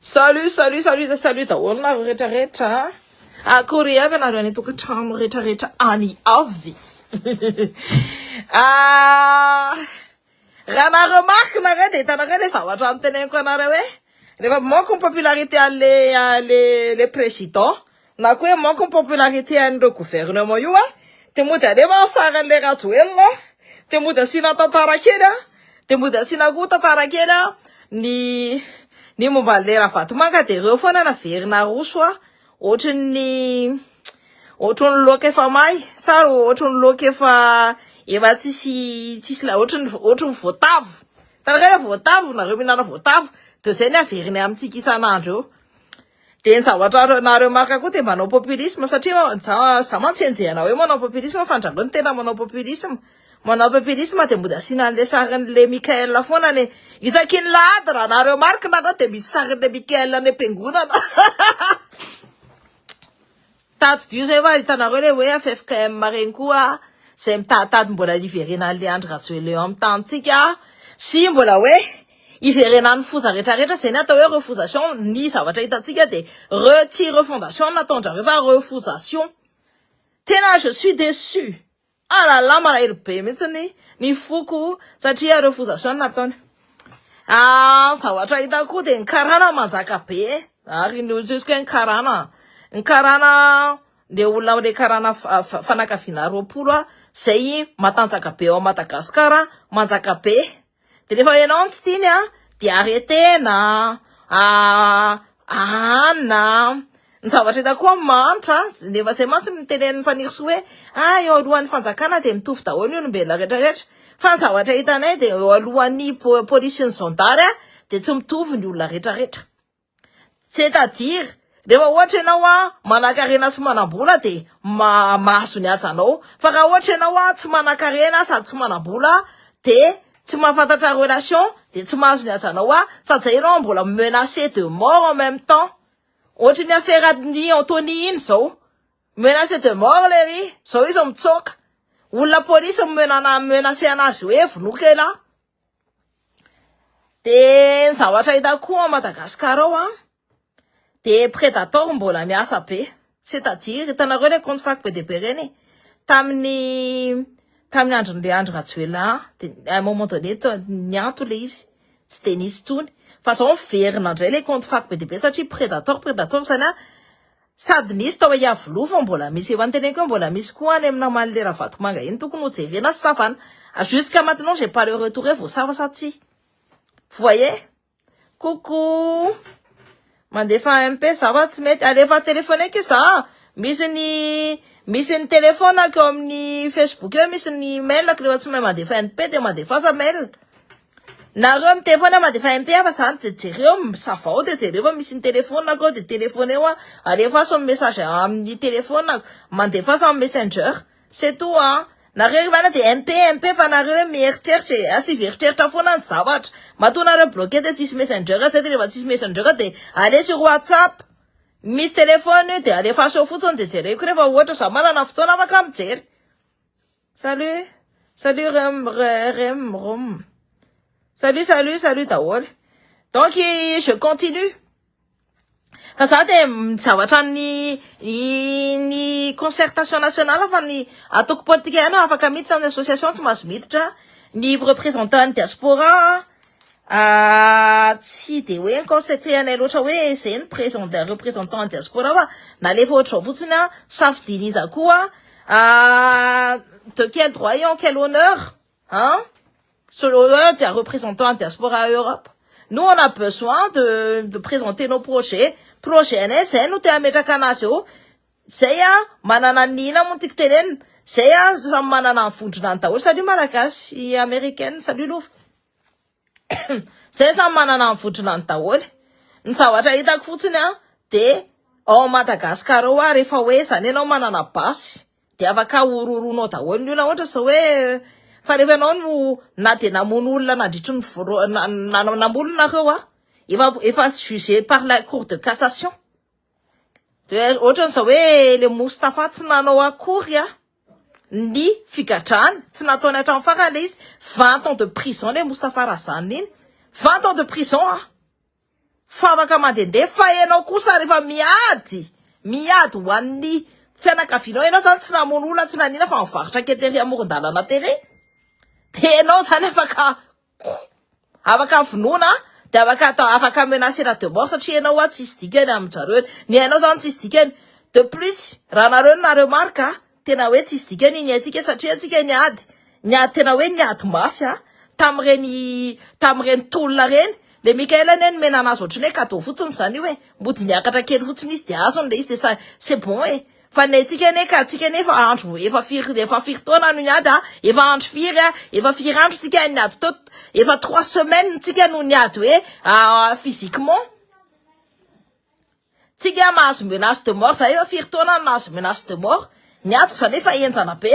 Salut salut salut de salut daholo nareo rehetra rehetra a! Akory avy anareo any an-tokantrano rehetra rehetra any avy? Ah, raha na remarque nareo dia hitanareo le zavatra noteneniko anareo hoe rehefa mamoaka ny popularité an'le le le président Na koa hoe manko ny popularité an'ireo gouvernement io an, dia mody alefa ny sarin'ilay Rajoelina an, dia mody asiana tantara kely an, dia mody asiana koa tantara kely an, ny ny momba an'ilay Ravatomanga dia ireo foana no averina aroso an, ohatran'ny ohatran'ny loaka efa may sa ohatran'ny loaka efa efa tsisy tsisy la- ohatran'ny ohatran'ny voatavo, hitanareo ilay voatavo, nareo mihinana voatavo, dia izay no averiny amintsika isan'andro eo. Dia ny zavatra nareo marka koa dia manao populisme satria za mantsy enjehina hoe manao populisme fa andrangao ny tena manao populisme. Manao populisme dia mody asiana an'ilay sarin'ilay Mickaël foana anie. Isaky ny lahady raha nareo marka nareo dia misy sarin'ilay Mickaël any am-piangonana. Tadidio zay va hitanareo le hoe ffkm reny koa zay mitaditady mbola hiverenan'le Andry Rajoelina eo amin'ny tanintsika sy mbola hoe hiverenan'ny foza rehetra rehetra zay ny atao hoe refosation ny zavatra hitantsika de re tsy refondation no nataondrareo fa refosation tena je suis deçu. Ah la la malahelo be mihitsy ny ny foko satria ireo foza soa no nataony ah zavatra hitako koa dia ny karana manjaka be eh ary ny olontsisiko hoe ny karana ny karana le olona amle karana fanakaviana roapolo ah zay matanjaka be ao Madagasikara manjaka be De rehefa ianao no tsy tiany a, de aretena, ahanina, ny zavatra hita koa mahantra, nefa zay mantsy no tenenin'i Fanirisoa hoe a eo alohan'ny fanjakana de mitovy daholo ny olombelona rehetra rehetra, fa ny zavatra hitanay de eo alohan'ny polisy sy ny zandary a de tsy mitovy ny olona rehetra rehetra. C'est-à-dire, rehefa ohatra ianao an, manankarena sy manambola dia mahazo ny hajanao, fa raha ohatra ianao an, tsy manankarena sady tsy manambola dia tsy mahafantatra relation dia tsy mahazo ny hajanao an, sady zay ianao mbola mi-menacer de mort en même temps, ohatra iny affaire an'i Anthony iny zao, mi-menacer de mort lery, zao izy mitsoaka, olona police mi-menacer an'azy hoe vonoiko elah. Dia ny zavatra hitako koa ao Madagasikara ao an, dia predator mbola miasa be, c'est à dire hitanareo ilay compte fako be dia be ireny e, tamin'ny tamin'ny andron'ilay Andry Rajoelina dia à un moment donné niato ilay izy tsy dia nisy intsony fa izao miverina indray ilay compte fako be dia be satria predator predator izany an, Sady nisy tao Iavoloha vao mbola misy eo any teneniko eo mbola misy koa any amina Malle Ravatomanga iny tokony ho jerena sy savana jusqu'à maintenant j'ai pas le retour hoe voasava sa tsia vous voyez coucou mandefa MP za fa tsy mety alefa téléphoneko za misy ny misy ny téléphone ko amin'ny Facebook eo misy ny mail ko rehefa tsy mahay mandefa MP dia mandefasa mail Nareo miteny foana mandefa MP fa zany de jereo misavao de jereo fa misy ny telefonako ao de telefoneo a alefaso ny message amin'ny telefonako mandefasa amin'ny messenger c'est tout a nareo ry vana de MP MP fa nareo hoe mieritreritra e asivo eritreritra foana ny zavatra matoa nareo bloquer de tsisy messenger zay de refa tsisy messenger de aleo sur whatsapp misy telefona io de alefaso eo fotsiny de jereko refa ohatra za manana fotoana afaka mijery Salut salut rem rem rom salut salut salut daholo donc je continue fa za dia mijavatra ny ny concertation nationale fa ny atoko politika ihany no afaka miditra ny association tsy mahazo miditra ny représentant ny diaspora Ah tsy de hoe mi-concentré anay loatra hoe zay ny présent représentant diaspora fa nalefa ohatr'izao fotsiny an, safidiany iza koa ah de quel droit et en quel honneur an selon eo dia représentant diaspora Europe nous on a besoin de de présenter nos projets, projet anay zay no te hametraka anazy eo. Zay a, manana ny ina moa ny tiako tenenina, zay a, samy manana ny vondronany daholo, salut malagasy américaine, salut lova, zay samy manana ny vondronany daholo, ny zavatra itako fotsiny a, de ao Madagascar ao a, rehefa hoe zany enao manana basy, de afaka horohoronao daholo ny olona, ohatra zao hoe, fa rehefa enao no na de namono olona nandritry ny voalo-, na-, na-, namono nareo a, efa, efa jugé par la cour de cassation, Dia ohatran'izao hoe le Moustapha tsy nanao akory a ny figadrany, tsy nataony hatramin'ny farany le izy, vingt ans de prison le Moustapha raha zany iny, vingt ans de prison a! Fa afaka mandendeha, fa ianao kosa rehefa miady, miady ho an'ny fianakavianao, ianao zany tsy namono olona tsy nanina fa nivarotra kely tery amoron-dalana tery, de ianao zany afaka ko. Afaka vonoina de afaka atao afaka menacer de mort satria enao hoa tsisy dikany aminjareo eny ny ainao zany tsisy dikany de plus raha nareo no na remarque a tena hoe tsisy dikany ny aintsika satria antsika niady niady tena hoe niady mafy a tamin'ireny tamin'ireny tolona ireny le Mickael anie nomena anazy ohatrany hoe cadeau fotsiny zany io e mody niakatra kely fotsiny izy de azony le izy de c'est bon e Fa ny antsika anie ka, antsika anie efa andro, efa firy, efa firy taona no niady a, efa andro firy a, efa firy andro tsika niady teo, efa trois semaines tsika no niady hoe physiquement, tsika mahazo menace de mort, za efa firy taona no nahazo menace de mort, ny adiko za anie efa henjana be.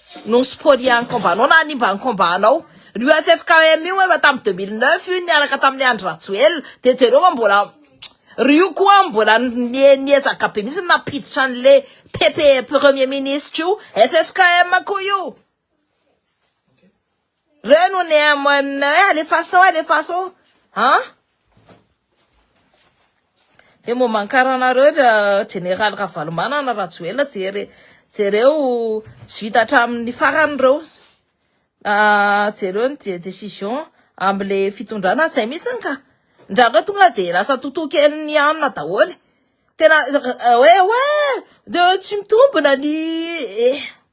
no siporian'ny combat-nao na hanimba ny combat-nao. Io ffkm io efa tamin'ny deux mille neuf io niaraka tamin'i Andry Rajoelina dia jereo fa mbola ry io koa mbola niezaka be mihitsy nampiditra an'le PP premier ministre io ffkm koa io. Reo no ne amana hoe alefaso alefaso an. Dia momba ny karanareo Jeneraly Ravalomanana Rajoelina jere jereo tsy vita hatramin'ny farany ireo ah, jereo ny décision amle fitondrana zay mihitsiny ka ndrandrao tonga dia lasa totokelin'ny anona daholo tena hoe hoe de tsy mitombina ny eh.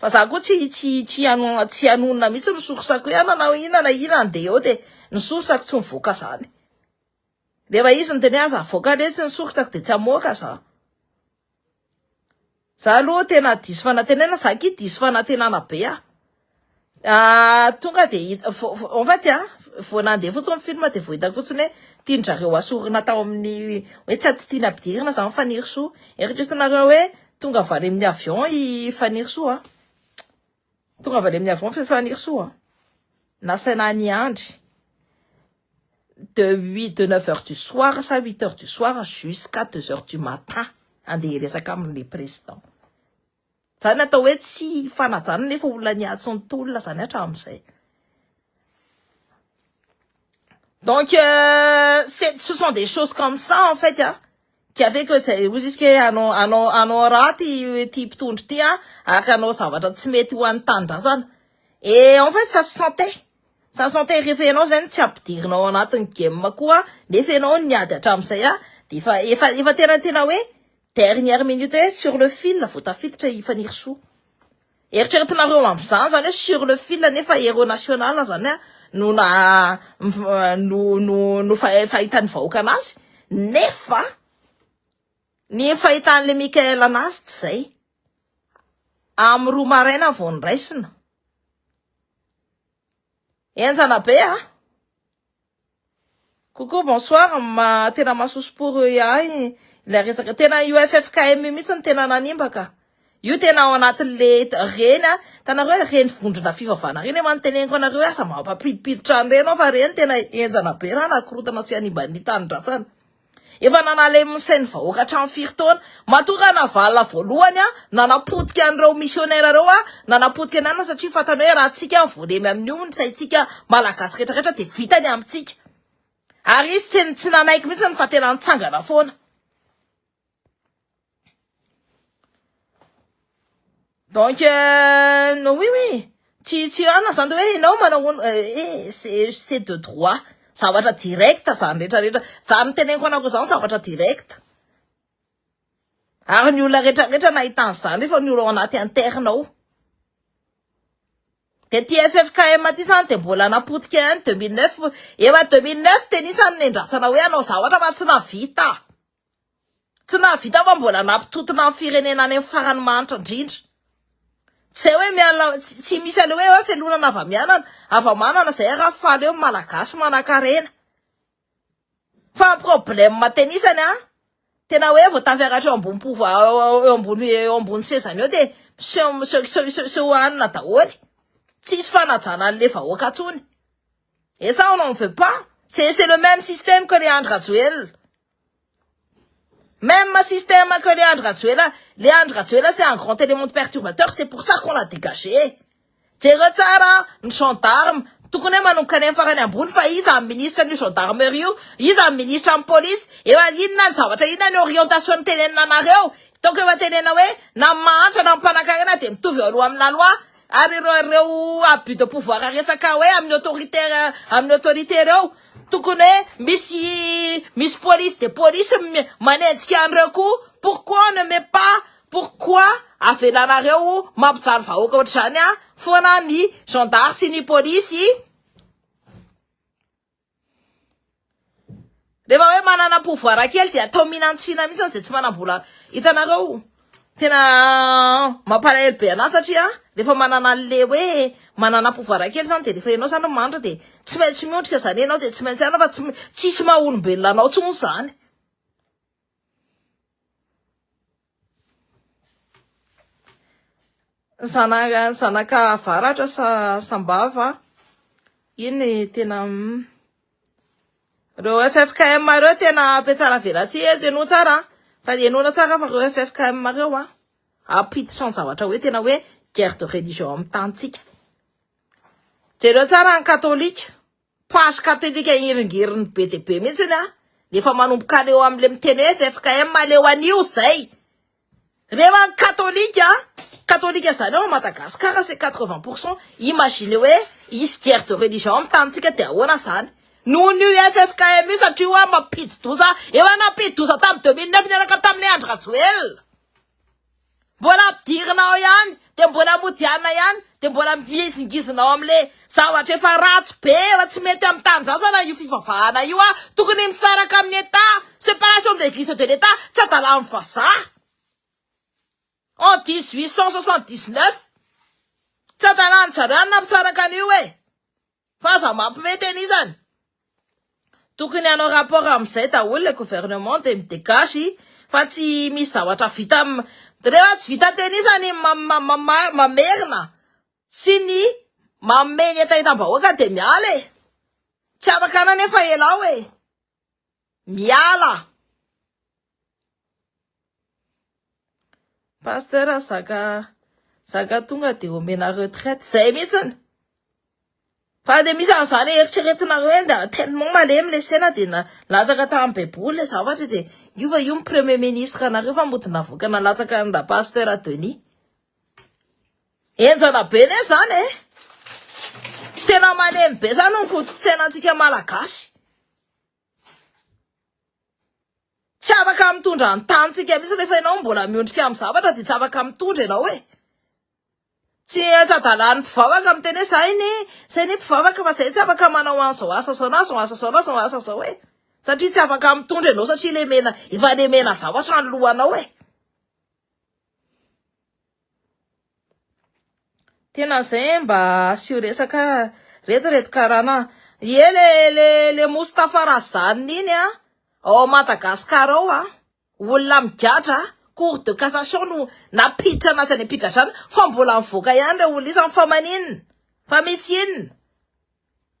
Fa za ko tsy tsy tsy hanonona tsy hanonona mihitsy ny sorsako hoe ana na ina na ina andeha eo de ny sorsako tsy mivoaka zany rehefa izy ny teny aza avoaka letsy ny sorsako de tsy hamoaka za za aloha tena diso fanantenana za ki diso fanantenana be ah Tonga dia hita, en fait an, vao nandeha fotsiny ny film dia vao hitako fotsiny hoe tian'drareo hasorina tao amin'ny hoe tsy tsy tiana ampidirina izany Fanirisoa. Eritreretinareo hoe tonga avy any amin'ny avion i Fanirisoa an? Tonga avy any amin'ny avion i Fanirisoa an? Nasaina niandry de huit, de neuf heures du soir sa huit heures du soir jusqu'à deux heures du matin handeha hiresaka amin'ilay président. Zany atao hoe tsy fanajana nefa olona niatsy ny tolona zany hatramin'izay. Donc euh, ce sont des choses comme ça en fait hein. Qui a fait que c'est hoy izy ke anao anao anao raty ity mpitondra ity hein, ary anao zavatra tsy mety ho an'ny tanindrazana. Et en fait ça se sentait. Ça se sentait rehefa ianao zany tsy ampidirinao anatin'ny game koa nefa ianao niady hatramin'izay dia efa efa efa tena tena hoe Dernière minute sur le fil vao tafiditra i Fanirisoa. Eritreretinareo amin'izany izany hoe sur le fil nefa héros national izany a no na no no no fahitan'ny vahoaka anazy nefa ny fahitan'le Michael anazy tsy izay. Amin'ny roa maraina vao niraisina. Enjana be a! Coucou bonsoir ma tena masoso pour eux ahy ilay resaka tena io ffkm io mihitsy no tena nanimba ka io tena ao anatin'le reny a hitanareo hoe reny vondrona fivavahana reny efa niteneniko anareo hoe aza mampampidipiditra an'ireny ao fa reny tena henjana be raha nakorotana sy hanimba ny tanindrazana Efa nanalemy ny sain'ny vahoaka hatramin'ny firy taona? Matoa Ranavalona voalohany an, nanapotika an'ireo missionnaire ireo an, nanapotika ny anona satria fantany hoe raha tsika an voalemy amin'io ny saintsika Malagasy rehetra rehetra dia vita ny amintsika. Ary izy tsy tsy nanaiky mihitsy fa tena nitsangana foana. Donc euh, no oui oui, tsy tsy rana zany hoe ianao manao eh, c'est c'est de droit. Zavatra direct zany rehetra rehetra. Zany teneniko anako zany zavatra direct. Ary ny olona rehetra rehetra nahitana zany rehefa ny olona anaty interne ao. De ty FFKM ty zany de mbola napotika ihany 2009, efa 2009 de nisy an'ny nendrasana hoe hanao zavatra fa tsy navita. Tsy nahavita fa mbola nampitontona ny firenena any amin'ny farany mahantra indrindra. Tsy hay hoe miala tsy misy an'io hoe felonana hava-mianana hava-manana izay ary hahafaly eo ny Malagasy manan-karena. Fa ny problème tena isany a tena hoe vao tafiakatra eo ambony pouvoir eo ambony eo ambony sezany eo dia miseho miseho miseho miseho miseho hanina daholo. Tsisy fanajana an'ilay vahoaka intsony. Et ça on n'en veut pas, c'est c'est le même système que le Andry Rajoelina. Même système que le Andry Rajoelina, le Andry Rajoelina c'est un grand élément de perturbateur, c'est pour ça qu'on l'a dégagé. Jereo tsara ny gendarme, tokony hoe manokana eny farany ambony fa iza ny ministra an'io gendarmerie io, iza ny ministra ny police, efa inona ny zavatra inona ny orientation nitenenina anareo, hitako efa tenenina hoe na ny mahantra na ny mpanankarena dia mitovy eo alohan'ny lalois, Ary ireo ireo abus de pouvoir resaka hoe amin'ny autorité amin'ny autorité ireo tokony hoe misy misy police de police manenjika an'ireo koa pourquoi on ne met pas pourquoi avelanareo mampijaly vahoaka ohatr'izany a foana ny gendarme sy ny police Rehefa hoe manana pouvoir kely dia atao mihinantsina mihitsy izay tsy manam-bola. Hitanareo, tena mampalahelo be anà satria rehefa manana an'ilay hoe manana pouvoir kely izany dia rehefa ianao izany no manitra dia tsy maintsy miondrika izany ianao dia tsy maintsy hanana fa tsy m- tsisy maha-olombelona anao intsony izany. Zanaka zanaka avaratra sa sambava iny tena reo ffkm reo tena ampiatsara velatsihy eto ianao tsara fa ianao tsara fa reo ffkm reo a ampiditra ny zavatra hoe tena hoe guerre de religion amin'ny tanintsika jereo tsara ny katolika Page catholique hiringiriny be dia be mihitsy an! Efa manomboka any eo amin'ilay miteny hoe ffkm aleo anio izay! Reo any katolika an! Katolika izany ao Madagascar c'est quatre vingt pour cent! Imaginez hoe hisy guerre de religion amin'ny tanintsika dia ahoana izany! Noho ny io ffkm io satria hoa mampidi-doza, efa nampidi-doza tamin'ny deux mille neuf niaraka tamin'i Andry Rajoelina! Mbola ampidirina ao ihany dia mbola modiana ihany dia mbola mihizingizina ao amin'le zavatra efa ratsy be efa tsy mety amin'ny tanindrazana io fivavahana io ah tokony misaraka amin'ny état séparation de l'église et de l'état tsy adalan'ny vazaha en 1879 tsy adalan'ny zareo any na misaraka an'io eh Fa aza mampime tena izany. Tokony hanao rapport amin'izay daholo le gouvernement de midegage fa tsy misy zavatra vita rehefa tsy vita teny izany mamerina sy ny manome ny hetahetam-bahoaka de miala e! Tsy afaka anefa ianao e! Miala. Pasteur zaka zaka tonga de omena retraite zay mihitsiny. Fa de misy an'izany eritreretinareo hoe dia tellement malemy le sena de na latsaka tamin'ny baiboly le zavatra de io va io ny premier ministre anareo fa mody navoaka nalatsaka an'i la pasteur Denis. Enjana be ne zany e! Tena malemy be zany ny foto-pitsena antsika malagasy. Tsy afaka mitondra ny tanintsika mihitsy rehefa ianao mbola miondrika amin'ny zavatra dia tsy afaka mitondra ianao e! Tsy antsa-dalàn'ny mpivavaka miteny hoe zay ne, zay ne mpivavaka fa zay tsy afaka manao an'izao asa zao na zao asa zao na zao asa zao e! Satria tsy afaka mitondra ianao satria lemena, efa lemena zavatra ny lohanao e! Tena zay eh, mba asio resaka reto reto karana. Ie le le le Moustapha Razanina iny a, ao Madagascar ao a, olona migadra a, cour de cassation no napiditra anazy any am-pigadrana fa mbola mivoaka ihany reo olona izany fa maninona? Fa misy inona?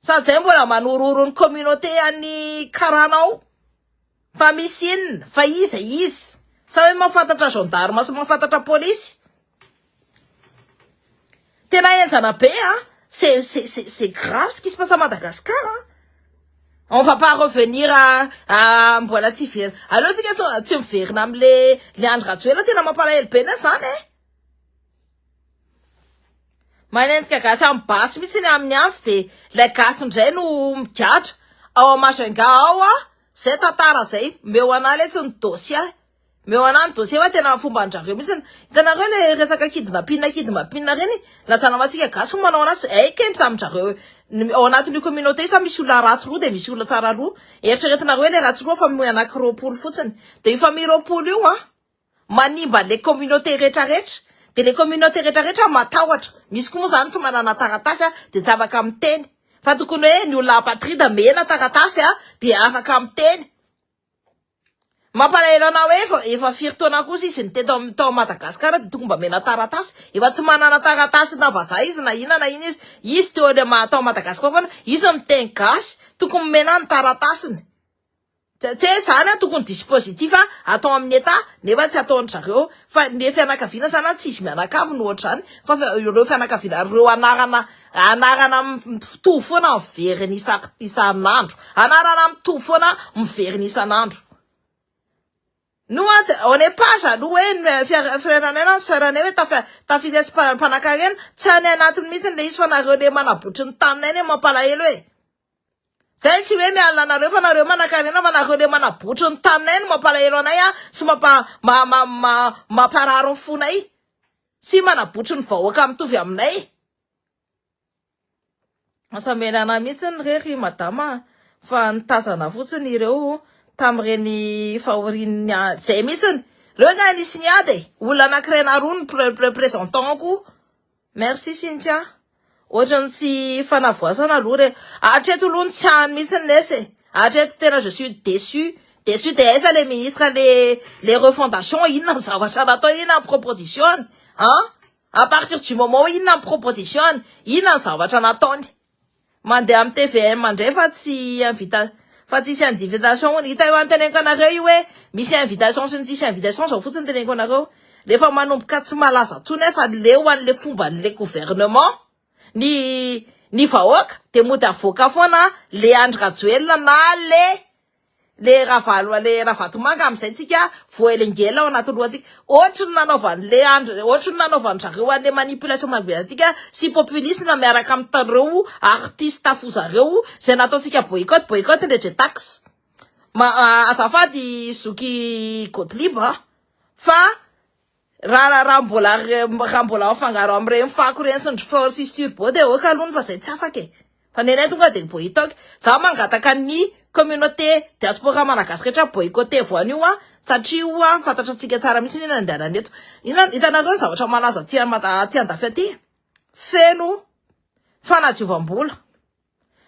Sady zay mbola manorohoro ny communauté any karana ao fa misy inona fa iza izy sa hoe mahafantatra gendarme sy mahafantatra polisy tena enjana be a c'est c'est c'est grave ce qui se passe à Madagascar a on va pas revenir à à mbola tsy very aleo tsika tsy miverina amle le Andry Rajoelina tena mampalahelo be ne zany e Manenjika gasy amin'ny basy mihitsy iny amin'ny antsy dia ilay gasy indray no migadra ao amin'ny Majunga ao a, izay tantara izay, omeo anah letsy ny dossier, omeo anah ny dossier fa tena fomban-dRareo mihitsy, hitanareo ilay resaka kidnapping kidnapping ireny, na za namantsika gasy no manao an'azy, hay kay ny zamin-dRareo ao anatin'io communauté io sa misy olona ratsy roa dia misy olona tsara roa, eritreretinareo hoe ilay ratsy roa fa mihoa anankiroapolo fotsiny, dia io famille roapolo io an. Manimba le communauté rehetra rehetra de le communauté rehetra rehetra matahotra misy koa moa zany tsy manana taratasy a de tsy afaka miteny fa tokony hoe ny olona apatrida mena taratasy a de afaka miteny mampalahelo anah hoe efa efa firy taona kosa izy ny teto am tao Madagascar de tokony mba mena taratasy efa tsy manana taratasy na vazaha izy na ina na ina izy izy teo le maha tao Madagascar foana izy miteny gasy tokony mena ny taratasiny Tse zany an tokony dispositif atao amin'ny Etat nefa tsy ataon-dry zareo fa ny fianakaviana zany an tsy izy mianakavy no ohatr'izany fa ireo fianakaviana ireo anarana anarana mitovy foana miverina isan isan'andro anarana mitovy foana miverina isan'andro no an tsy on est pas jaloux hoe ny fiara frère anay na ny sœur anay hoe tafa tafiditra mpa- mpanankarena tsy any anatiny mihitsy ilay izy fa nareo le manabotry ny taninay ne mampalahelo e Zay tsy hoe miala anareo fa nareo manakarena fa nareo le manabotry ny taninay no mampalahelo anay a sy mampa ma ma ma mamparary ny fonay tsy manabotry ny vahoaka mitovy aminay masamena anay mihitsy ny rery madama fa nitazana fotsiny ireo tamin'ireny fahorian'ny zay mihitsy ny reo nga nisy niady e olona anakirena roa ny présentant ko Merci Cynthia. Ohatrany tsy fanavoasana aloha re. Hatreto aloha ny tsy hany mihitsy ny lesy e. Hatreto tena je suis déçu. Déçu dia aiza le ministre le le refondation inona ny zavatra natao inona ny proposition-ny? An? A partir du moment inona ny proposition-ny? Inona ny zavatra nataony? Mandeha am tvm ndray fa tsy invita fa tsisy indivitation hono, hita io an teneniko anareo io hoe misy invitation sy ny tsisy invitation zao fotsiny teneniko anareo, rehefa manomboka tsy malaza tsony ahy fa leo anle fombanle gouvernement ny ny vahoaka de mody avoaka foana le Andry Rajoelina na le le ravalo le ravatomanga amizay tsika voaelengela ao anaty lohantsika ohatry ny nanaovany le andry ohatry ny nanaovany zareo anle manipulation magoelantsika sy populisme miaraka am tareo artiste afo zareo zay nataontsika boycott boycott le jetax ma azafady zoky gottlieb fa Raha raha mbola raha mbola mifangaro amin'ireny fako ireny sy ny rfort sisy turbo dia ok aloha fa izay tsy afaka e! Fa ny anay tonga dia boytock. Izaho mangataka ny communauté diaspora malagasy rehetra boycotter-vo an'io an! Satria ho'a fantatrantsika tsara mihitsy ny nandehanany eto. Inona hitanareo ny zavatra malaza aty aty andafy aty e! Feno fanadiovam-bola.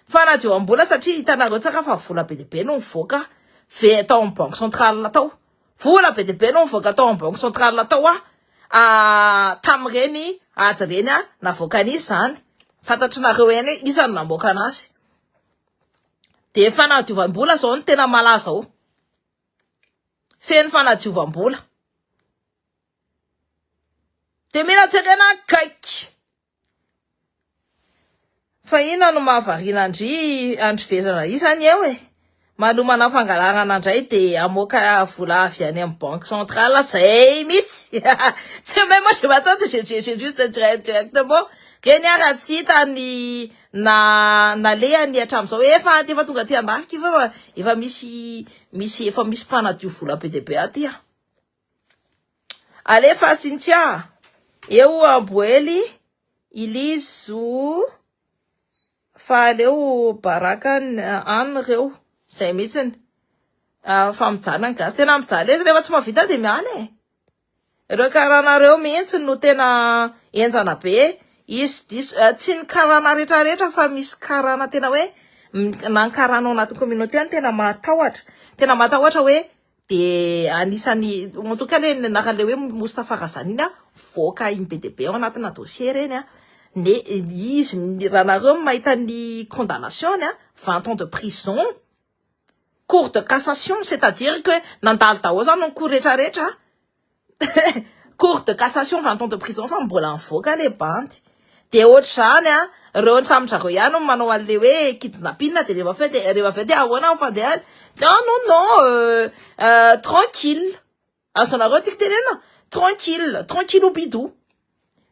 Fanadiovam-bola satria hitanareo tsara fa vola be dia be no nivoaka ve tao amin'ny banque centrale tao. Vola be dia be no nivoaka tao amin'ny banque centrale tao a ah, tamin'ireny ady ireny a navoakan'iza izany? Fantatrinareo ihany hoe iza no namoaka anazy. Dia fanadiovam-bola izao no tena malaza ao. Feno fanadiovam-bola. Dia mila jerena akaiky. Fa inona no mahavariana an-dry Andry Vezana izany eo e? Manomana fangalarana indray dia hamoaka vola avy any amin'ny banque centrale zay mihitsy. C'est même moi je m'attends j'ai j'ai juste directement reny ara tsy hita ny na nalehany hatramin'izao efa efa tonga aty an-dafika io fa efa misy misy efa misy mpanadio vola be dia be aty an. Alefa Cynthia, eo oa Boely, Ilizo fa aleo baraka an reo, zay mitsiny. Ah, fa mijaly ny gasy, tena mijaly izy rehefa tsy mavita de miala e. Reo karana reo mihitsy no tena enjana be, izy diso, eh, tsy ny karana retraretra fa misy karana tena hoe, na ny karana ao anaty communauté no tena mahatahotra, tena mahatahotra hoe, Dia anisan'ny, en tout cas le ny anaran'ilay hoe Moustapha Razany iny mivoaka iny be dia be ao anatina dossier ireny ne izy raha nareo mahita ny condamnation-ny vingt ans de prison cour de cassation c'est à dire que nandalo daholo izany ny cour rehetra rehetra cour de cassation vingt ans de prison fa mbola mivoaka le bandy de ohatr'izany an reo antramin-dRareo ihany no manao an'le hoe kidnapping de rehefa avy eo de rehefa avy eo de ahoana ny fandehany non non non tranquille azonareo tiako tenenina tranquille tranquille ou bidou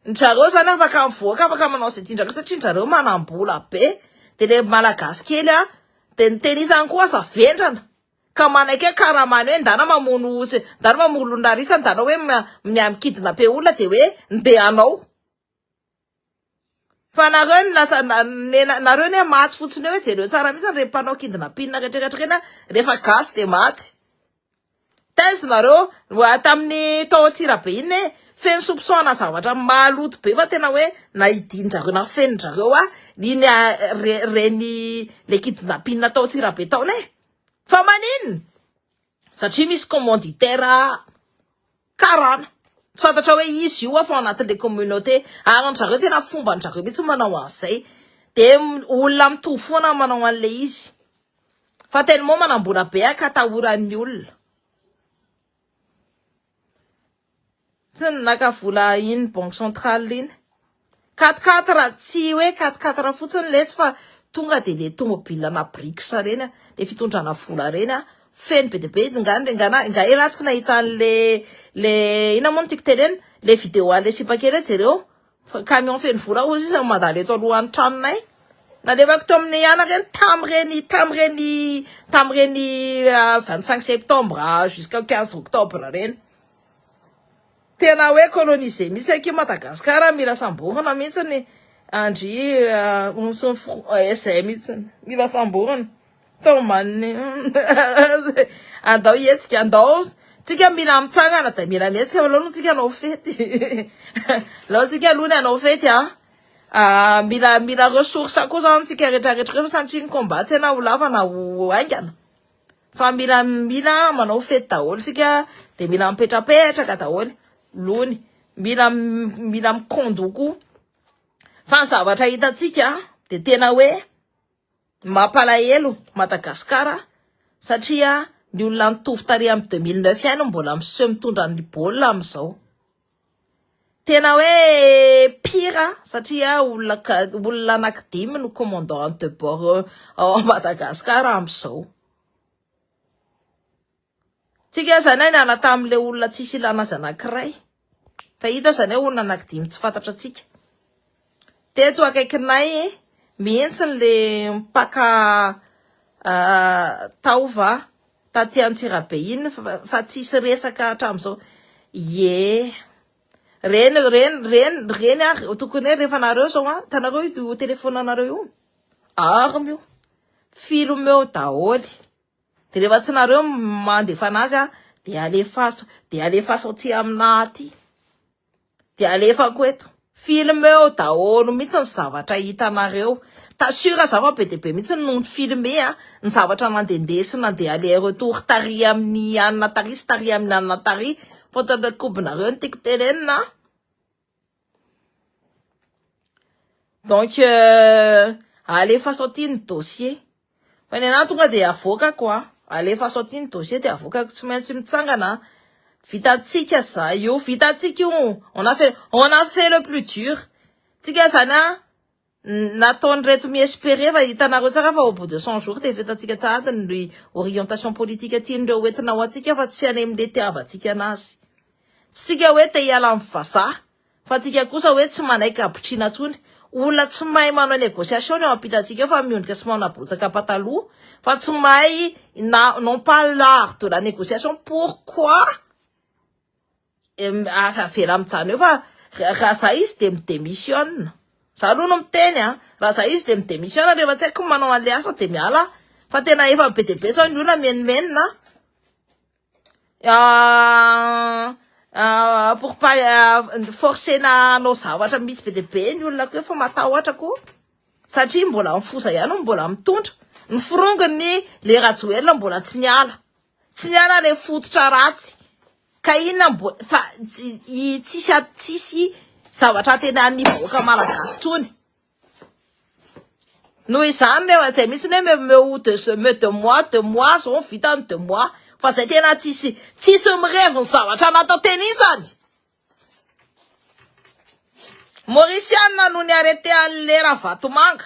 ndRareo zany afaka mivoaka afaka manao izay tiandrareo satria ndRareo manam-bola be de le malagasy kely an de ny teny isany koa aza vendrana Ka manaiky hoe karamany hoe ndana mamono osy ndana mamono olon-drarisa ndana hoe miha mikidina pe olona dia hoe ndeha anao fa nareo ny lasa nareo ny hoe maty fotsiny eo hoe jereo tsara mihitsy ireny mpanao kidnapina retrretra ireny rehefa gasy dia maty taiza nareo mbola tamin'ny tao Antsirabe iny hoe feno soupçon-na zavatra maloto be fa tena hoe na hidin-dry zareo na feno-dry zareo iny reny le kidnapina tao Antsirabe tao iny e Fa maninona? Satria misy commanditaire karana. Tsy fantatra hoe izy io fa ao anatin'ilay communauté. Ary an-dry zareo tena fomba an-dry zareo mihitsy manao an'izay. Dia olona mitovy foana manao an'ilay izy. Fa tellement manam-bola be ka atahoran'ny olona. Tsy ny naka vola iny banque centrale iny. Quatre quatre tsy hoe quatre quatre fotsiny letsy fa tonga dia le tomobile na brics ireny a, le fitondrana vola ireny a, feno be dia be ngah ny ngah na ngah ialahy tsy nahita an'le le inona moa no tiako tenenina le vidéo an'le sipa kely hoe jereo. Fa camion feno vola koa sisa no mandalo eto alohan'ny tranonay. Nalevako teo amin'ny anaka eny tamin'ireny tamin'ireny tamin'ireny 25 ah, septembre ah, jusqu'au 15 octobre ireny. Tena hoe colonisé mihitsy aky Madagasikara mila samborina mihitsy ny andry ah, onsin'ny eh, izay mihitsy mila samborina. Taomany andao hihetsika andao tsika mila mitsangana dia mila mihetsika aloha tsika hanao fety alao tsika aloha ny hanao fety a ah, mila mila ressource koa zany tsika rehetra rehetra koa satria ny combat tsy na ho lava na ho haingana fa mila mila manao fety daholo tsika dia mila mipetrapetraka daholo lony mila mila mikondoko fa ny zavatra hitantsika dia tena hoe Mampalahelo Madagascar satria ny olona nitovy tarehy am deux mille neuf ihany no mbola miseho mitondra ny baolina am zao. Tena hoe pire satria olona olona anaky dimy no commandant de bord ao Madagascar am zao. Tsika aza anie niala tamin'ilay olona tsisy ilana azy anankiray fa hita aza anie olona anankidimy tsy fantatra tsika. Teto akaikinay mihitsy le mpaka ah, taova taty Antsirabe iny fa tsisy resaka hatramin'izao. Ye. Reny reny reny reny ary tokony rehefa nareo zao ah, tanareo io telefonanareo io. Arme io. Film eo daholo. Dia rehefa tsy nareo mandefa anazy aho dia alefaso, dia alefaso aty aminà aty. Dia alefako eto. Film eo daholo mihitsy ny zavatra hitanareo. T'assure za fa be dia be mihitsy no filme a, ny zavatra nandehandeha sy nandeha aller retour tary amin'i anona tary sy tary amin'i anona tary. Fantatra kobonareo ny tiako tenenina a. Donc euh, alefaso aty ny dossier. Fa ny anah tonga dia avoakako a. Ah. Alefaso aty ny dossier dia avoakako tsy maintsy mitsangana. Ah. Vitantsika za io, vitantsika io. On a fait on a fait le plus dur. Tsika zany a ah. Nataon'ireto mi-esperer fa hitanareo tsara fa au bout de cent jours dia efa hitantsika tsahady ny orientation politique tian'ireo ho entina ho antsika fa tsy any amin'ilay itiavantsika anazy. Tsy tsika hoe te hiala amin'ny vazaha fa tsika kosa hoe tsy manaiky habotriana intsony. Olona tsy mahay manao négociation ny eo ampitantsika eo fa miondrika sy manabotsaka pataloha fa tsy mahay na n'ont pas l'art de la négociation pourquoi? Ary avela mijanona eo fa raha za izy dia mi-demissionne. Za aloha no miteny an! Raha za izy dia mi-demissionne ary rehefa tsy haiko ny manao an'ilay asa dia miala aho. Fa tena efa be dia be izao ny olona mimenomenona an! pour pas forcer-na hanao zavatra mihitsy be dia be ny olona ko efa matahotra ko! Satria mbola ny foza ihany no mbola mitondra. Ny forongony le Rajoelina mbola tsy niala. Tsy niala le fototra ratsy ka inona mbo fa i tsisy a tsisy zavatra antenain'ny vahoaka malagasy tony. Noho izany reo izay mihitsy ny hoe me me ou de ce me de moi de moi zao ny vitany de moi fa zay tena tsisy tsisy mirevy ny zavatra natao teny izany. Mauriciana no ni arrete an'le Ravatomanga.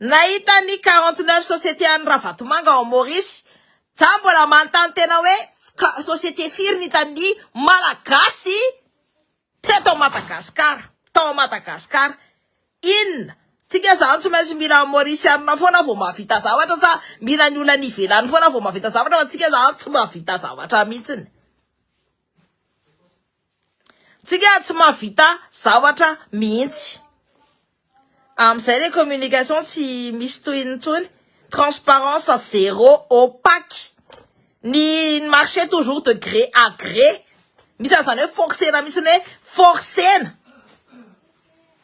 Nahita ny quarante neuf sociétés an'i Ravatomanga ao Maurice za mbola manontany tena hoe société firy ny hitan'ny Malagasy teto Madagascar, tao Madagascar, inona? Tsika zany tsy maintsy mila Mauricianina foana vao mahavita zavatra sa mila ny olona any ivelany foana vao mahavita zavatra fa tsika zany tsy mahavita zavatra mihitsiny. Tsika tsy mahavita zavatra mihitsy. Amin'izay ilay communication tsy misy tohiny intsony, transparence zéro, opaque. Ny marché toujours de gré à gré. Misy an'izany hoe forcer-na mihitsy hoe forcer-na.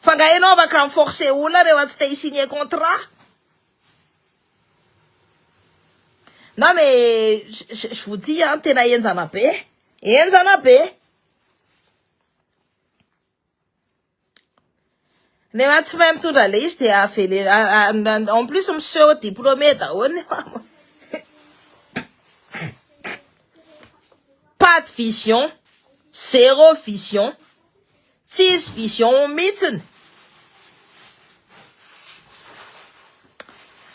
Fa nga ianao afaka mi-forcer olona rehefa tsy te hi-signer contrat? Non mais je vous dis an, tena enjana be e, enjana be e. Rehefa tsy mahay mitondra ilay izy dia avelena, en plus miseho diplômé daholo ny mpamorona. Pas de vision, zéro vision. Tsisy vision mitsiny.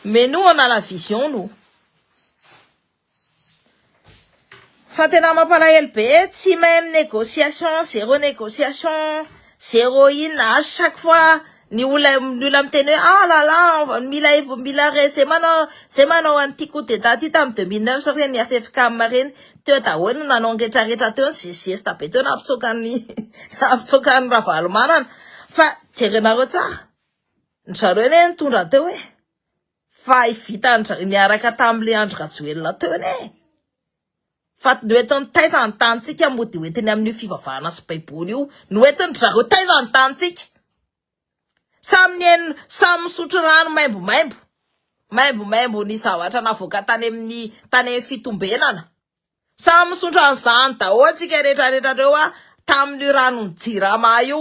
Menu anala vision o. Fa tena mampalahelo be tsy même négociation zéro négociation zéro inona à chaque fois Ny olona ny olona miteny hoe ah là là mila evo mila re zay manao zay manao an'ity coup d'état ty tamin'ny deux mille neuf reny AFFKM reny teo daholo nanao ny rehetra rehetra teo ny zesta be teo nampitsoaka ny nampitsoaka ny Ravalomanana fa jerenareo tsara ny zareo anie nitondra teo e fa i vitan niaraka tamin'ilay Andry Rajoelina teo anie e. Fa ny hoentin'ny taiza ny tanintsika moa dia hoentiny amin'io fivavahana sy baiboly io no hoentiny dry zareo taiza ny tanintsika? Samy nihaino samy misotro rano maimbomaimbo maimbomaimbo ny zavatra navoaka tany amin'ny tany amin'ny fitombenana samy misotro an'izany daholo tsika rehetra rehetra reo a tamin'io ranon'ny jirama io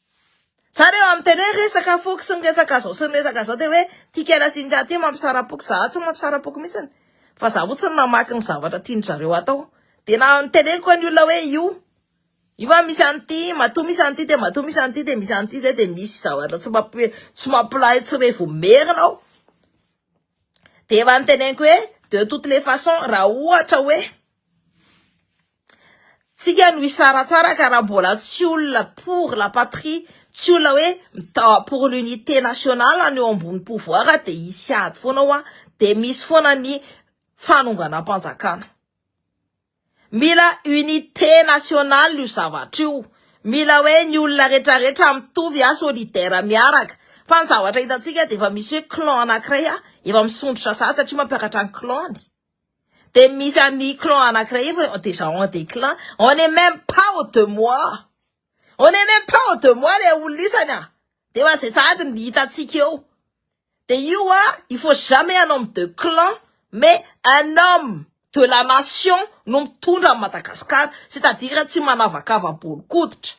Zany eo amin'ny teny hoe resaka foko sy ny resaka izao sy ny resaka izao dia hoe ity kela sy ingahy ity mampisara-poko. Izaho tsy mampisara-poko mihitsy fa izaho fotsiny namaky ny zavatra tian-dry zareo atao. Dia na teneniko an'ny olona hoe io, io a misy an'ity, matoa misy an'ity dia matoa misy an'ity dia misy an'ity izay dia misy zavatra tsy mampi- tsy mampilahy tsy revo merina ao. Dia efa noteneniko hoe de toutes les façons raha ohatra hoe. Tsika no hisaratsaraka raha mbola tsy olona pour la patrie, tsy olona hoe mitao pour l'unité nationale no eo ambony pouvoir dia hisy ady foana hoa dia misy foana ny fanonganam-panjakana. Mila unité nationale io zavatra io, mila hoe ny olona retraretra mitovy a solidaire miaraka fa ny zavatra hitantsika dia efa misy hoe clan anankiray efa misondrotra sahady satria mampiakatra ny clan-ny. Dia misy an'i clan anankiray efa déjà en déclin, on n'est même pas au deux mois. On n'est même pas au deux mois ilay olona isany a! Dia efa izay sahady no hitantsika eo. Dia io a, il faut jamais un homme de clan, mais un homme de la nation no mitondra an'i Madagasikara, c'est-à-dire tsy manavakava bolon-koditra,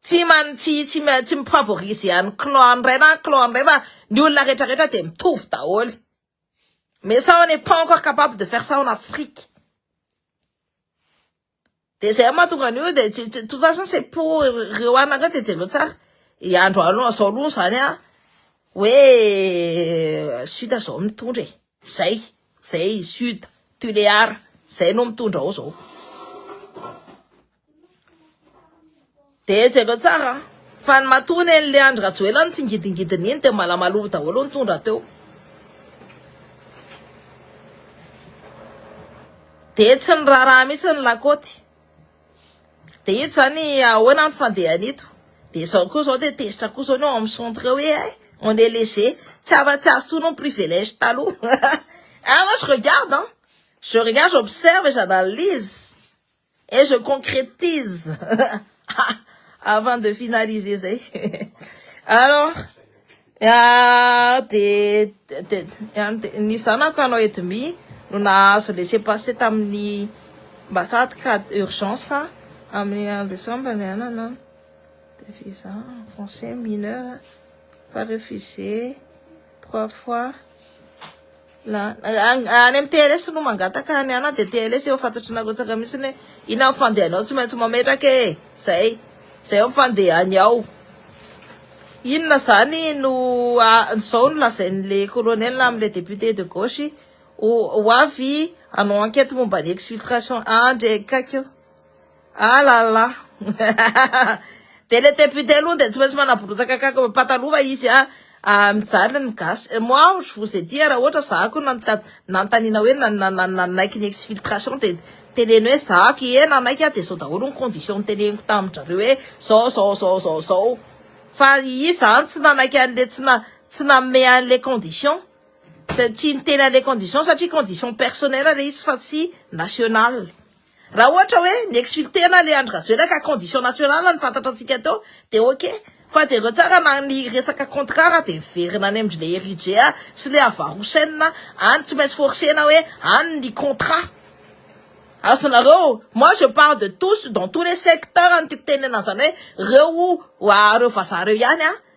tsy man, tsy, tsy, tsy mi-favoriser an'i clan an'iray na an'i clan an'iray fa ny olona rehetra rehetra dia mitovy daholo. Mais ça on n'est pas encore capable de faire ça en Afrique. Dia zay mahatonga an'io dia tsy de toute façon c'est pour ireo anaka dia jereo tsara i andro aloha zao aloha zany a hoe sud zao mitondra e zay zay sud tulear zay no mitondra ao zao Dia jereo tsara fa ny matoa nen'ilay Andry Rajoelina no tsingidingidiny iny dia malamalova daholo nitondra teo. Dia tsy ny raharaha mihitsy ny lakaoty. Dia ito zany ahoana ny fandehany ito. Dia izao koa izao dia tezitra koa izao ny ao amin'ny centre hoe eh, on est léger. Tsy afa tsy azo tono ny privilège taloha. ah, moi je regarde, hein. Je regarde, j'observe et j'analyse. Et je concrétise avant de finaliser zay. Alors, ah, de, de, de, ny zanako anao Edmi no nahazo laisser passer tamin'ny ambassade cas d'urgence amin'ny en décembre ny anana de visa français mineur pas refusé trois fois Any amin'ny TLS no mangataka any ana dia TLS efa fantatry narotsaka mihitsy hoe inona ny fandehanao tsy maintsy mametraka e zay zay ny fandehany ao inona zany no zao no lazain'le colonel amle député de gauche ho avy hanao enquête momba ny exfiltration andry e kaiky o Ah la la de le député aloha de tsy maintsy manaborotsaka kaka pataloha izy a ah, mijaly ny gasy eh, moi je vous ai dit raha ohatra za ko nanontaniana hoe nanaiky ny exfiltration de teneno hoe za ko ie nanaiky ah de zao daholo ny condition niteneniko tamindrareo hoe zao zao zao zao zao fa i zany tsy nanaiky anle tsy na tsy nanome anle condition de tsy niteny anle condition satria condition personnel le izy fa tsy national Raha ohatra hoe mi-exulter-na le Andry Rajoelina ka condition nationale no fantatra antsika teo dia ok. Fa jereo tsara na ny resaka contrat raha dia miverina any amindry le Eritrea sy le Havarosaina any tsy maintsy forcer-na hoe any ny contrat azonareo. Moi je parle de tous dans tous les secteurs no tiako tenenana an'izany hoe reo oa reo vazaha reo ihany an.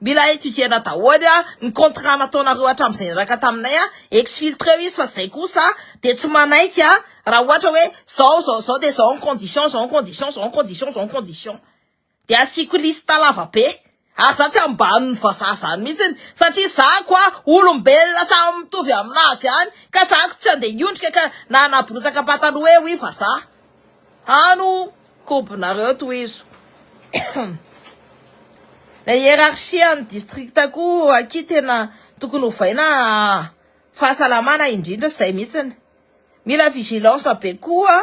Mila etudierna daholo a ny contrat nataonareo hatramizay niaraka taminay a, exfiltreo izy fa zay kosa de tsy manaiky a, raha ohatra hoe zao zao zao de zao ny condition zao ny condition zao ny condition zao ny condition de asiako liste lava be ary za tsy ambanin'ny vazaha zany mihitsiny satria za kwa olombelona samy mitovy aminazy any ka za ko tsy andeha hiondrika ka na hanaborotsaka pataloha eo i vazaha Hano kobonareo tohizo Ilay hiérarchie an'ny district koa akia tena tokony hovaina fahasalamana indrindra zay mihitsiny Mila vigilance be koa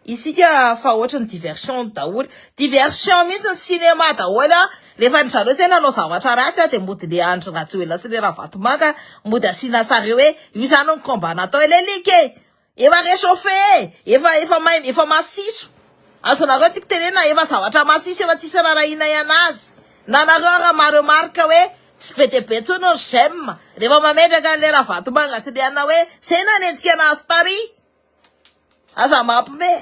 isika fa ohatry ny diversion daholo diversion mihitsiny cinéma daholo rehefa ny zareo zay nanao zavatra ratsy dia mody le Andry Rajoelina sy le Ravatomanga mody asiana sary hoe io zany ny combat natao ilay like e Efa rechauffe e! Efa efa may efa masiso! Azonareo tiko tenenina efa zavatra masiso efa tsisy rarahianay anazy! Na nareo ara ma remarque hoe tsy be dia be tsony ny j'aime refa mametraka anle ravatomanga sy liana hoe zay nanenjika anazy tary! Aza mampme.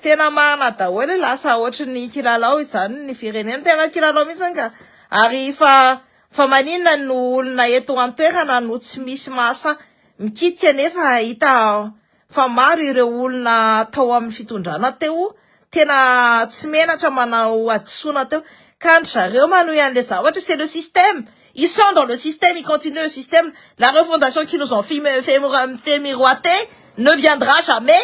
Tena marina daholo e, lasa ohatry ny kilalao izany ny firenena, tena kilalao mihitsy anga ary fa fa maninona no olona eto an-toerana no tsy misy mahasahy mikitika nefa hita fa maro ireo olona tao amin'ny fitondrana teo tena tsy menatra manao hadisoana teo ka ndry zareo manohy an'ilay zavatra, c'est le système, ils sont dans le système, ils continuent le système, la refondation qu'ils nous ont fait miroiter ne viendra jamais.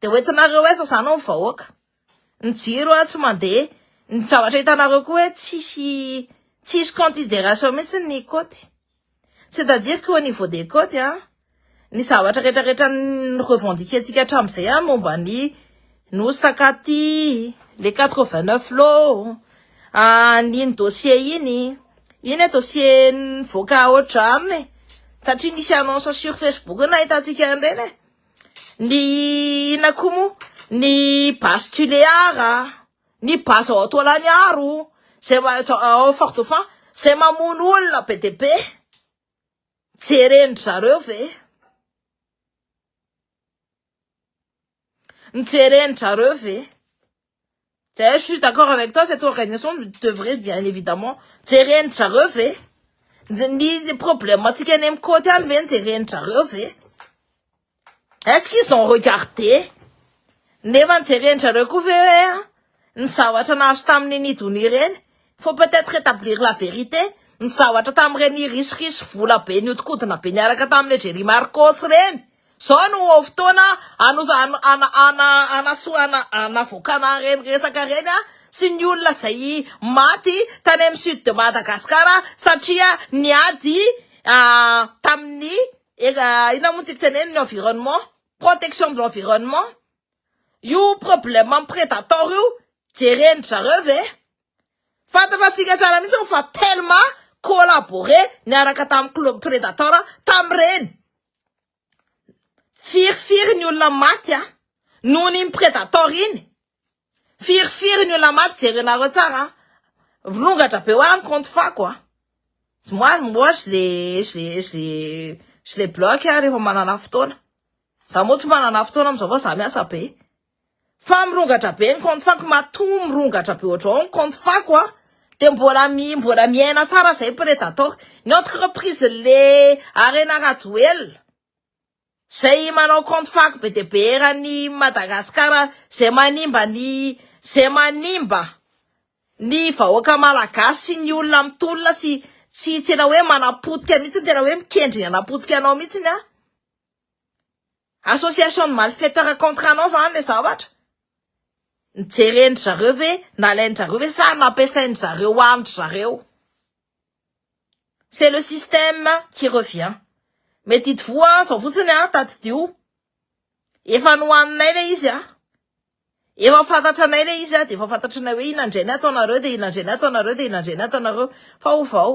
Dia hoentinareo aiza izany ny vahoaka? Ny jiro a, tsy mandeha. Ny zavatra hitanareo koa hoe tsisy tsisy consideration mihitsy ny côte. C'est à dire qu'au niveau des côtes a, ny zavatra rehetrarehetra ni-revendiquer-ntsika hatramin'izay a, momba ny Nosy Sakaty, le 89 lots, an'iny dossier iny, iny e dossier nivoaka haodrano e, satria nisy annonce sur Facebook nahitantsika an'ireny e. Ny inona koa moa? Ny base Tuléar, ny base ao Toalaniaro, zay ao Fort Dauphin, zay mamono olona be dia be. Jeren-dry zareo ve? Jeren-dry zareo ve? Zay je suis d'accord avec toi, cette organisation devrait bien évidemment jeren'ny zareo ve? Ny problème antsika any amin'ny côte any ve no jeren'ny zareo ve? Est ce qu'ils ont regardé? Nefa ny jeren'ny zareo koa ve hoe an, ny zavatra nahazo tamin'ny nidonia ireny, faut peut être rétablir la vérité, ny zavatra tamin'ireny risoriso vola be nihodinkodina be niaraka tamin'ilay Jerry Marcos ireny? Zao no fotoana anavoakana ireny resaka ireny a, sy ny olona izay maty tany amin'ny sud de Madagascar satria niady tamin'ny inona moa ny tiako tenenina ny environnement, protection de l'environnement, io problème predator io jeren-dry zareo ve? Fantatrantsika tsara mihitsy fa Telma collaboré niaraka tamin'ny club Predator tamin'ireny. Firifiry ny olona maty a! Noho ny Predator iny. Firifiry ny olona maty jerenareo tsara a! Rongatra be hoaho ny compte fako a! Moi, moi je les, je les, je les, je les bloque rehefa manana fotoana. Za moa tsy manana fotoana amizao fa za miasa be. Fa mirongatra be ny compte fako matoa mirongatra be ohatrao ny compte fako a de mbola mi mbola miaina tsara zay predator ny entreprise le arena rajoelina zay manao compte fako be de be eran'ny madagascar zay manimba ny zay manimba ny vahoaka malagasy sy ny olona mitolona sy tsy tena hoe manapotika mihitsy tena hoe mikendry ny hanapotika anao mihitsy ny a Association de malfaiteurs contre anao zany le zavatra? Nijeren'dry zareo ve, nalain'dry zareo ve sa nampiasain'dry zareo andry zareo? C'est le système qui revient. Mety ito voa an, zao fotsiny an, tadidio. Efa nohaninay le izy an. Efa fantatranay le izy an, de efa fantatranay hoe inona indray ny ataonareo, de inona indray ny ataonareo, de inona indray ny ataonareo. Fa ovao.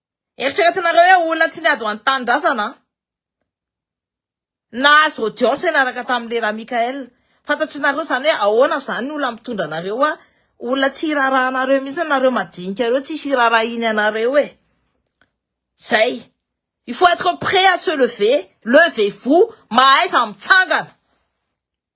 Eritreretinareo hoe olona tsy niady ho an'ny tanindrazana an! Nahazo audience niaraka tamin'i Lera Michael. Fantatr'nareo izany hoe ahoana izany ny olona mitondra anareo an! Olona tsy hirarahanareo mihitsy nareo madinika ireo, tsisy hirarahiny anareo e! Zay! Il faut être prêt à se lever, levez-vous, mahaiza mitsangana!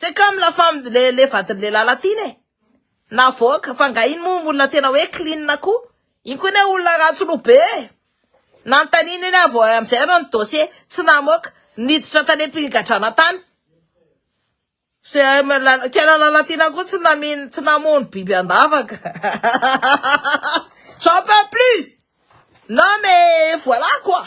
C'est comme la femme le le vadin'ny lehilahy latino e! Navoaka, fa nga iny moa olona tena hoe clean koa? Iny koa anie olona ratsy loha be e! Nanontaniana iny aho vao hay amin'izay ianao ny dossier, tsy namoaka, niditra tany am-pigadrana tany. CM la quelle la latina koa tsy namino tsy namono biby an-davaka. J'en peux plus! Non mais voilà quoi!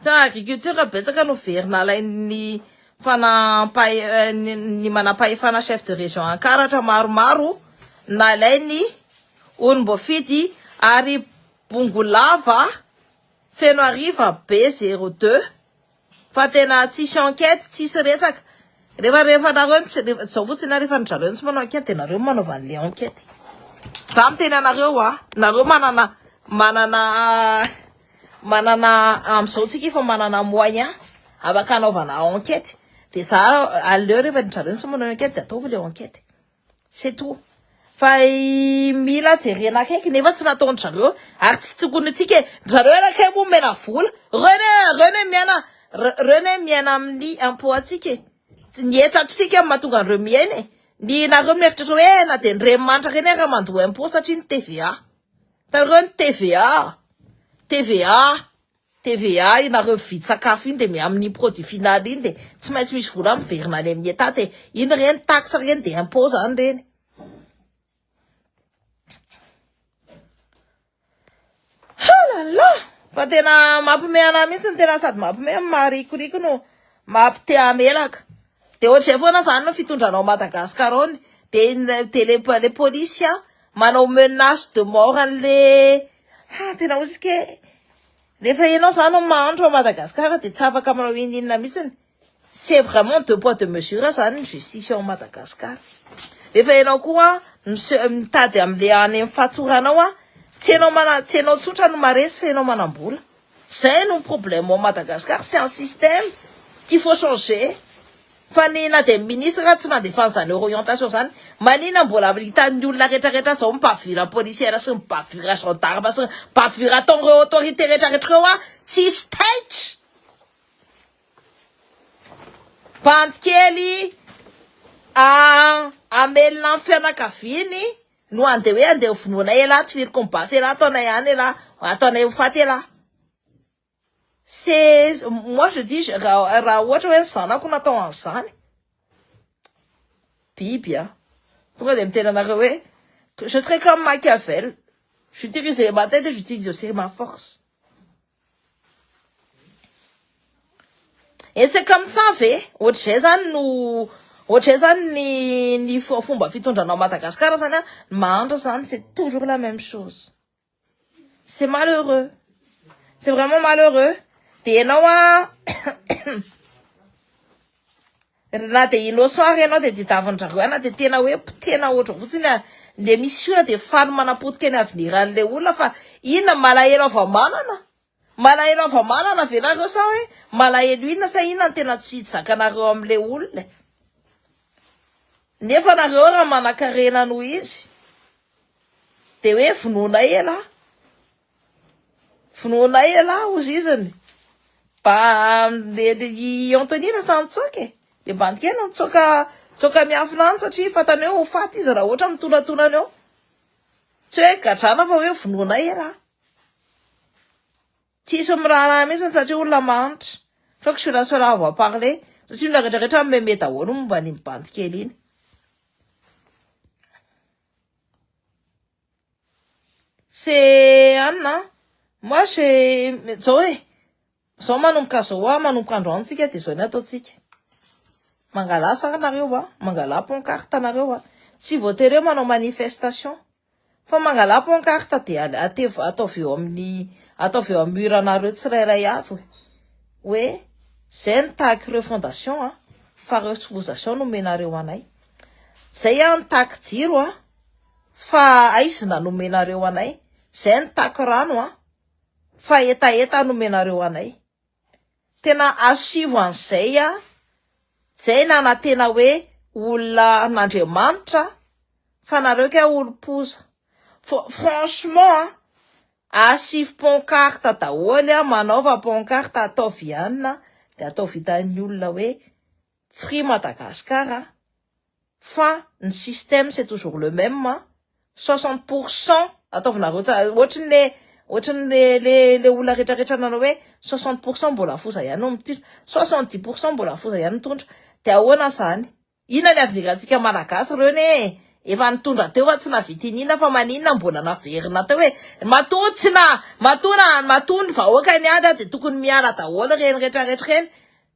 Tsara agriculture betsaka no very nalain'ny fanampahefan'ny manampahefana chef de région ankaratra maromaro nalainy olomboafidy ary bongolava feno ariva be zero deux Fa tena tsisy enquête tsisy resaka. Refa refa nareo tsy refa zao fotsiny a refa ndrareo tsy manao enquête de nareo manaova anle enquête. Za miteny anareo a nareo manana manana manana amzao tsika efa manana moyen afaka anaovana enquête de za aleo refa ndrareo tsy manao enquête de ataovy le enquête. C'est tout. Fa mila jerena akaiky nefa tsy nataon-dry zareo ary tsy tokony antsika e. Ry zareo ary kay moa omena vola. Ireo ne, ireo ne miaina, ireo ne miaina amin'ny impôt-ntsika e. Tsy ny hetatr'isika no mahatonga an'ireo miaina e. Ny nareo mieritreritra hoe na dia ny renimanitra ireny ary mandoa impôt satria ny TVA. Hitanareo ny TVA? TVA. TVA iny nareo mividy sakafo iny dia mi amin iny produit final iny dia tsy maintsy misy vola miverina any amin ny etat dia iny ireny taxe ireny dia impot izany ireny. Ah la la! Fa tena mampiomehy anah mihitsy ny tena sady mampiomehy no maharikoriko no mampite hamelaka. Dia ohatr'izay foana izany ny fitondranao an'i Madagascar ao ny, dia ny, dia le, le polisy an, manao menace de mort an'ilay, ha, tena ozy ke, rehefa ianao izany no mahantra ao Madagascar dia tsy afaka manao inon'inona mihitsiny, c'est vraiment deux poids deux mesures izany ny justice ao Madagascar, rehefa ianao koa miseho, mitady amin'ilay any amin'ny fahatsoranao an, tsy ianao mana, tsy ianao tsotra no maharesy fa ianao manam-bola. Zay no problème ao Madagascar c'est un système qu'il faut changer fa ny na dia ministre tsy nandefany zany orientation zany manina mbola hitan'ny olona retraretra zao ny bavure policière sy ny bavure gendarme sy ny bavure ataon'ireo autorité retraretra ireo a tsisy taitra bandy kely a amelona ny fianakaviany no any de hoe andeha ho vonoy anay elah tifiriko ny basy elah ataonay any elah ataonay ho faty elah c'est moi je dis raha ohatra hoe ny zanako no atao an'izany biby a tonga de miteny anareo hoe je serai comme Machiavel j'utilise les ma tête et j'utilise aussi ma force Ese comme ça ve? Ohatr'izay zany no ohatr'izay zany ny ny fomba fitondranao Madagascar zany a, ny mahantra zany c'est toujours la même chose. C'est malheureux, c'est vraiment malheureux, de ianao a. Ry na dia iloso ary ianao dia tedavin-dry zareo any na dia tena hoe potehina hoatra fotsiny ary le misy ora dia faly manam-poty teny aveniran'ilay olona fa inona ny malahelo hava-manana? Malahelo hava-manana ve nareo sa hoe malahelo inona sa inona no tena tsy zakanareo amin'ilay olona e? Nefa nareo raha manan-karena noho izy dia hoe vonoina ela a! Vonoinay ialahy hozy izany. Mba i Anthony lasa nitsoaka e. Dia mba nitokena nitsoaka nitsoaka miafina any satria fantany hoe ho faty izy raha ohatra mitonatonana eo. Tsy hoe gadrana fa hoe vonoinay ialahy. Tsisy miraharaha mihitsy satria olona mahantra. Je crois que celà sera avoir parlé satria ny olona rehetra meme daholo momba an'iny bandy kely iny. C'est Anne an! Moi je zao e, zao manomboka zao hoa manomboka androany tsika de zao ny ataontsika, mangalà saha nareo hoa, mangalà pancarte nareo hoa, tsy voatery hoe manao manifestation fa mangalà pancarte de atevo- ataovy eo amin'ny, ataovy eo amin'ny mur anareo tsirairay avy hoe zay no tahaky ireo fondation an, fa ireo tsy fozation no omenareo anay, zay an ny tahaky jiro an. Fa aizina no omenareo anay, zay ny tac rano an! Fa hetaheta no omenareo anay. Tena asivo an'izay an! Zay ny anantena hoe olona an'Andriamanitra an! Fa nareo kay olom-poza. Fa franchement an! Asivo pancarte daholo an! Manaova pancarte ataovy ihany an! Dia ataovy hitan'ny olona hoe Free Madagascar an! fa ny système c'est toujours le même an, soixante pour cent ataovinareo ohatry ny le ohatry ny le le le olona rehetra rehetra nanao hoe soixante pour cent mbola foza ihany no mitondra, soixante dix pour cent mbola foza ihany no mitondra de ahoana zany? inona ny avenir antsika malagasy reo ne efa nitondra teo fa tsy navitinina fa maninona mbola naverina teo e, matoa tsy na matoa na matoa ny vahoaka niady ary de tokony miala daholo reny rehetra rehetra reny,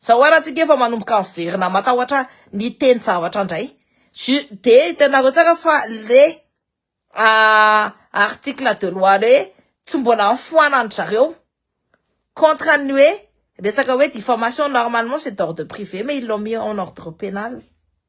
Zao ary antsika efa manomboka miverina matahotra ny teny zavatra indray. Je, dia hitanareo tsara fa le article de loi le hoe tsy mbola nifoanan-dry zareo contre ny hoe resaka hoe diffamation normalement c'est d'ordre privé mais ils l'ont mis en ordre pénal.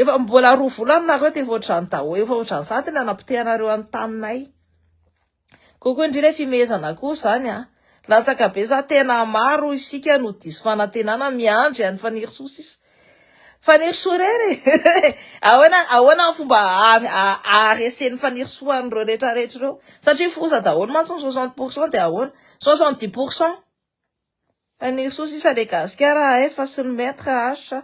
Efa mbola roa volana nareo dia efa ohatran'ny daholo, efa ohatran'ny sady ny hanapotehanareo an'ny taninay. Kokoa indrindra ny fimehezana koa izany an! Latsaka be za tena maro isika no diso fanantenana miandry an'i Fanirisoa sisa. Fanirisoa irery e! Ahoana ahoana ny fomba aharesen'i Fanirisoa an'ireo rehetra rehetra ireo? Satria foza daholo mantsy ny soixante pour cent dia ahoana? Soixante dix pour cent? Fanirisoa sisa le gasikara a F sy ny maître H a.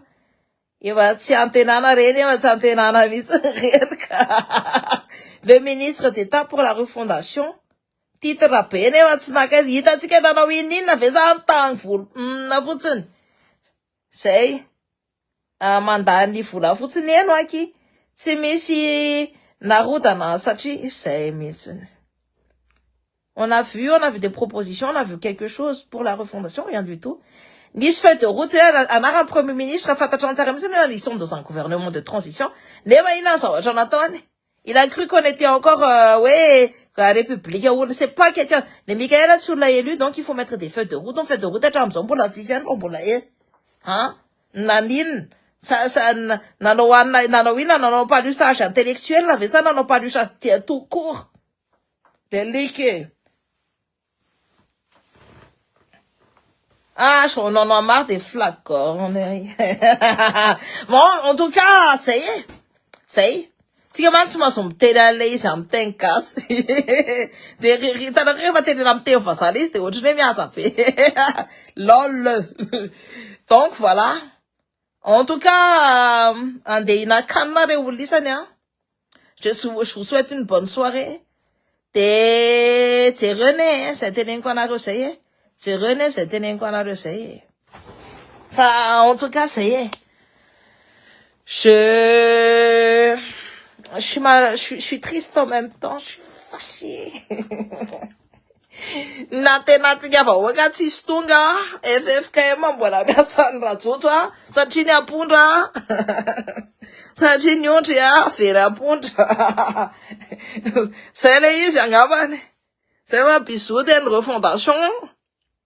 Efa tsy antenana re nefa tsy antenana mihitsy ny reniko a. Le ministre d'état pour la refondation, titre be nefa tsy naka izy, hitantsika nanao inona inona ve sa nitangvolo humm fotsiny? Zay. mandany vola fotsiny eno aky tsy misy narodana satria zay mihitsiny on a vu on avait des propositions on a vu quelque chose pour la refondation rien du tout nisy feuille de route hoe anaran'ny premier ministre fantatrany tsara mihitsiny hoe ils sont dans un gouvernement de transition nefa inona ny zavatra nataony Il a cru qu'on était encore hoe République oul c'est pas quelqu'un le Mickaël tsy olona élu donc il faut mettre des feux de route ny feux de route hatramin'izao mbola tsy nisy ihany fa mbola ela an naninona sa sa nanao anona nanao inona nanao ampaliosage intellectuel ve sa nanao ampaliosage tout court le like Ah, je on en a marre des flacons. bon, en tout cas, ça y est. Ça y est. Tsika mantsy tsy mahazo miteny an'ilay izy amin'ny teny gasy. Dia hitanareo rehefa tenena amin'ny teny vazaha ilay izy dia ohatran'ny hoe mihaza be. Lol. Donc voilà. En tout cas, euh, andeha hihinan-kanina ireo olona isany an. Je je vous souhaite une bonne soirée. De jereo ne eh, zay teneniko anareo zay eh. Jereo ne zay teneniko anareo zay eh. Fa en tout cas zay eh. Je je suis mal, je suis, je suis triste en même temps, je suis fâchée. Nantenatsika vahoaka tsisy tonga ffkm mbola miantso an'i Rajojo a satria ny ampondra satria ny ondry a very ampondra zay le izy angambany zay va bisous de ny refondation